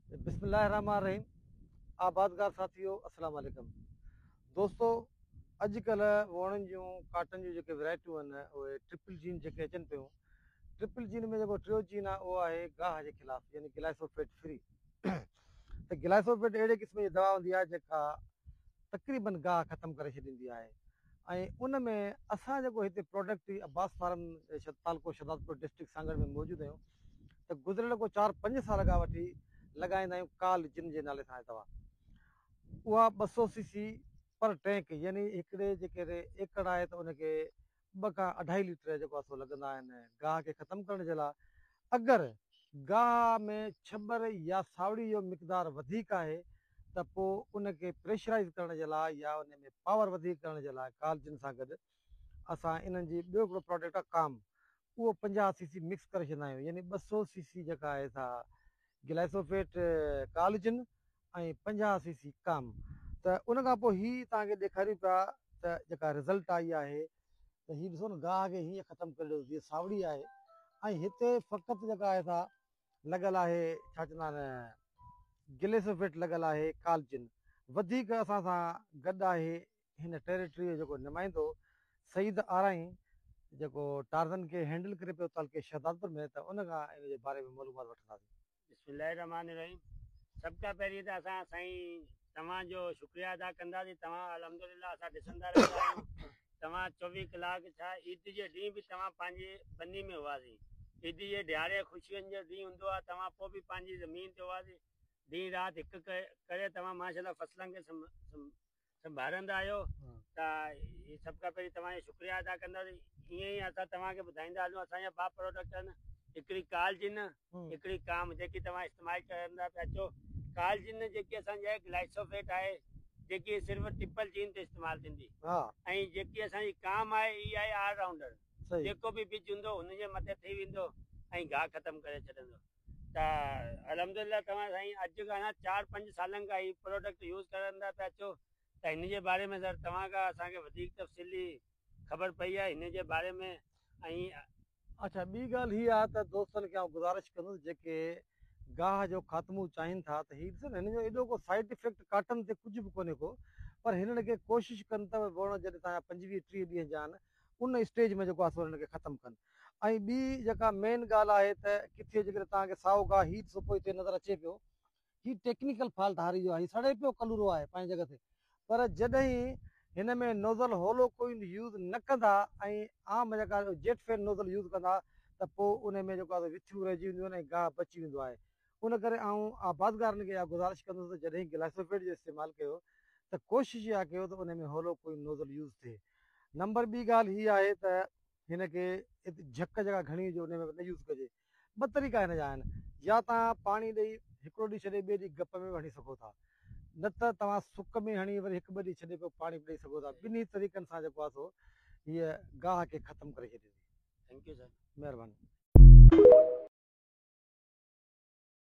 بسم الله الرحمٰن الرحيم آبادگار ساٿيو السلام عليڪم دوستو اڄ ڪلهه ووڻن جون ڪاٽن جون جيڪي ويرائٽيون آهن اهي ٽرپل جين جيڪي اچن پيون ٽرپل جين ۾ جيڪو ٽيو جين آهي اهو آهي گاهه جي خلاف يعني گلائسوفيٽ فري ته گلائسوفيٽ اهڙي قسم جي دوا هوندي آهي جيڪا تقريبن گاهه ختم ڪري ڇڏيندي آهي ۽ ان ۾ اسان جيڪو هتي پراڊڪٽ عباس فارم تعلقو شهدادپور ڊسٽرڪٽ سانگهڙ ۾ موجود آهيون ته گذريل ڪو چار پنج سال کان وٺي لڳائيندا آهيون ڪال جن جي نالي سان آهي دوا اها ٻه سو سي سي پر ٽينڪ يعني هڪڙي جيڪي ايڪڙ آهي ته ان کي ٻه کان اڍائي ليٽر جيڪو آهي سو لڳندا آهن گاهه کي ختم ڪرڻ جي لاء اگر گاهه ۾ ڇٻر يا ساوڙي جو مقدار وڌيڪ آهي ته پوء ان کي پريشرائيز ڪرڻ جي لاء يا ان ۾ پاور وڌيڪ ڪرڻ جي لاء ڪالجن سان گڏ اسان انهن جي ٻيو هڪڙو پراڊڪٽ آهي ڪام اهو پنجاهه سي سي مڪس ڪري ڇڏيندا آهيون يعني ٻه سؤ سي سي جيڪا آهي سا گلائسوفيٽ ڪالجن ۽ پنجاهه سي سي ڪام ته ان کان پوء هي توهان کي ڏيکاريون پيا ته جيڪا رزلٽ آئي آهي ته هي ڏسو نه گاهه کي هيئن ختم ڪري ڏيو جيئن ساوڙي آهي ۽ هتي فقط جيڪا آهي سا لڳل آهي ڇا چوندا آهن گليسوفيٽ لڳل آهي ڪالچن وڌيڪ اسان سان گڏ آهي هن ٽيريٽري جو جيڪو نمائندو سعيد آرائين جيڪو ٽارزن کي هينڊل ڪري پيو تعلقي شهدادپور ۾ ته ان کان ان جي باري ۾ معلومات وٺنداسين. بسم الله الرحمٰن الرحيم سڀ کان پهرين ته اسان سائين توهان جو شڪريه ادا ڪنداسين توهان الحمدلله اسان ڏسندا رهندا آهيون توهان چوويهه ڪلاڪ ڇا عيد جي ڏينهن به توهان پنهنجي ٻني ۾ هئاسين عيد جي ڏهاڙي خوشين جو ڏينهن هوندو آهي توهان پوء به پنهنجي زمين تي هئاسين ڏينهن رات هڪ ڪري توهان ماشاءالله فصلن کي سنڀارندا آهيو ته سڀ کان پهرين توهان جو شڪريه ادا ڪنداسين ائين ئي اسان توهان کي ٻڌائيندا هلون اسان جا ٻه پروڊڪٽ آهن هڪڙي ڪالجن هڪڙي ڪام جيڪي توهان استعمال ڪرندا پيا اچو ڪالجين ۾ جيڪي اسان جي گلائسوفيٽ آهي جيڪي صرف ٽپل جين تي استعمال ٿيندي ۽ جيڪي اسان جي ڪام آهي هي آهي آل رائونڊر جيڪو به بج هوندو هن جي مٿي ٿي ويندو ۽ گاهه ختم ڪري ڇڏندو ته الحمدلله توهان سائين اڄ کان چار پنج سالن کان هي پروڊڪٽ يوز ڪرندا پيا اچو ته هن جي باري ۾ سر توهان کان اسان کي وڌيڪ تفصيلي خبر پئي آهي هن جي باري ۾ ۽ اڇا ٻي ڳالهه هي آهي ته دوستن کي آئون گذارش ڪندس جيڪي گاهه جو خاتمو چاهين ٿا ته هي ڏسن هن جو ايڏو ڪو سائيڊ افيڪٽ ڪاٽن تي ڪجهه به ڪونهي ڪو پر هنن کي ڪوشش ڪن ته وڻ جڏهن تان جا پنجويهه ٽيهه ڏينهن جا آهن ان اسٽيج ۾ جيڪو آهي سو هنن کي ختم ڪن ۽ ٻي جيڪا مين ڳالهه آهي ته ڪٿي جيڪڏهن توهان کي سائو گاهه هي ڏسو پوء هتي نظر اچي پيو هي ٽيڪنيڪل فالٽ هاري جو آهي هي سڙي پيو ڪلورو آهي پنهنجي جڳهه تي پر جڏهن هن ۾ نوزل هولو ڪوئل يوز نه ڪندا ۽ عام جيڪا جيٽ فين نوزل يوز ڪندا ته پو انهي ۾ جيڪو آهي وٿيون رهجي وينديون آهن ۽ گاهه بچي ويندو آهي ان ڪري آئون آبادگارن کي اها گذارش ڪندس ته جڏهن گلائسوفيٽ جو استعمال ڪيو ته ڪوشش اها ڪيو ته انهي ۾ هولو ڪوئل نوزل يوز ٿئي نمبر ٻي ڳالهه هي آهي ته هن کي جهڪ جيڪا گهڻي هجي انهي ۾ نه يوز ڪجي ٻه طريقا هن جا آهن، يا توهان پاڻي ڏئي هڪڙو ڏينهن ڇڏي ٻئي ڏينهن گپ ۾ به هڻي سگهو ٿا، نه ته توهان سڪ ۾ هڻي وري هڪ ٻه ڏينهن ڇڏي پوء پاڻي به ڏئي سگهو ٿا، ٻنهي طريقن سان جيڪو آهي سو هيء گاهه کي ختم ڪري ڇڏيندي. ٿينڪ يو سائين. مهرباني.